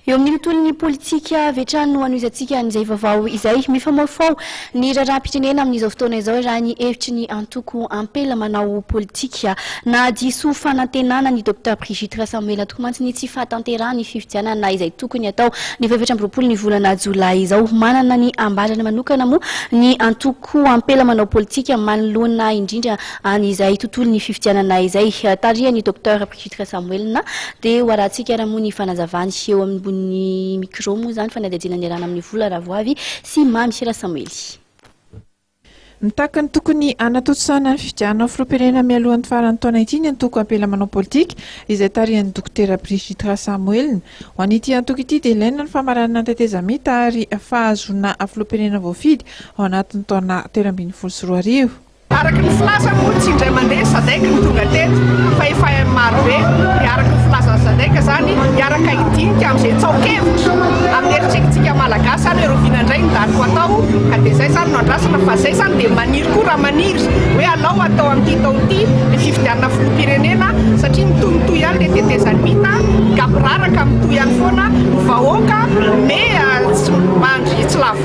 Eo amin'ny tontolon'ny politika avy hatrany no hanohizantsika an'izay vaovao izay. Mifamofoao ny raharaham-pirenena amin'izao fotoana izao raha ny hevitry ny antoko Ampela manao politika. Nahadiso fanantenana ny Docteur Brigitte Rasamoela tokoa mantsy ny tsy fahatanterahana ny fifidianana izay tokony hatao ny faha-efatra amby roapolo ny volana jolay izao. Manana ny ambarany manokana moa ny antoko Ampela manao politika manoloana indrindra an'izay tontolon'ny fifidianana izay. Tarihan'i Docteur. Judy Rajamoelina, dia ho arahantsika ary moa ny fanazavany eo ambony micro moa izany fanadihadiana niarahana amin'ny Vola Ravoavy sy Mamy Rasamwely. Mitaky ny tokony hanatontosana ny fifidianana ho filoham-pirenena mialohan'ny faran'ny taona ity ny antoko Ampela Manao Politika izay tarihan'i Dokotera Brigitte Rasamoelina. Ho an'ity antoko ity dia ilaina ny famaranana ny tetezamita ary fahazoana filoham-pirenena voafidy ao anatin'ny taona telo ambin'ny folo sy roa arivo. Araka ny filaza moa tsy indray mandeha ny sadec no tonga teto fa efa marobe dia araka ny filazan'ny sadec izany hiaraka hidinika amin'izay tsaonkevitra amin'ny heritrekintsika malagasy izany hoe robinet indray ny daty ho atao ka dia izay izany no andrasana fa izay izany dia maniry koa raha maniry hoe alao atao amin'ity taona ity ny fifidianana filoham-pirenena satria mitomitohy ihany ilay tetezamita mita ka miraraka mitohy ihany foana ny vahoaka mey tsy mandry tsy lavo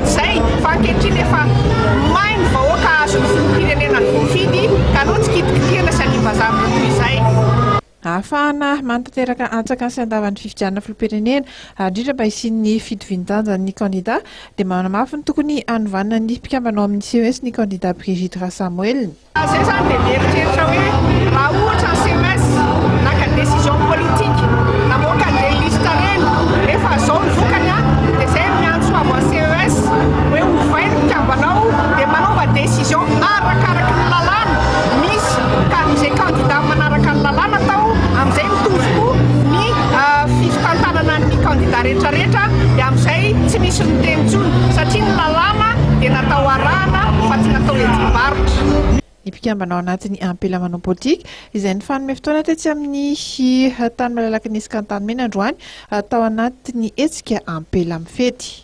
Zay, fa ankehitriny efa may ny vahoaka hahazo ny filoham-pirenena ny voafidy, ka aleo tsy kitikitihana sy aniam-bazaha amin'ireo toy izay. Ahafahana manatanteraka antsakany sy andavan'ny fifidianana filoham-pirenena, ary indrindra mba hisian'ny fitovian-danjan'ny kandida, dia manamafy ny tokony hanovana ny mpikambana ao amin'ny ces ny kandida Brigitte Rasamoelina. Raha izay izany dia mieritreritra hoe raha ohatra ny CMS naka ny décision politique namoaka ny des listes ireny nefa izao ny vokany an, dia izay no miantso avy amin'ny CES hoe ovay ny mpikambanao dia manaova décision arakaraky ny lalàna misy ka amin'izay candidat manaraka ny lalàna atao amin'izay mitovy koa ny fitantanana ny candidat rehetrarehetra dia amin'izay tsy misy miteny intsony satria ny lalàna dia natao arahana fa tsy natao hetsi-bavaka. ny mpikambana ao anatin'ny ampela manao politika, izay nifanome fotoana tetsy amin'ny tany malalaky ny Esy Kantanimena androany tao anatin'ny hetsika ampela mifety.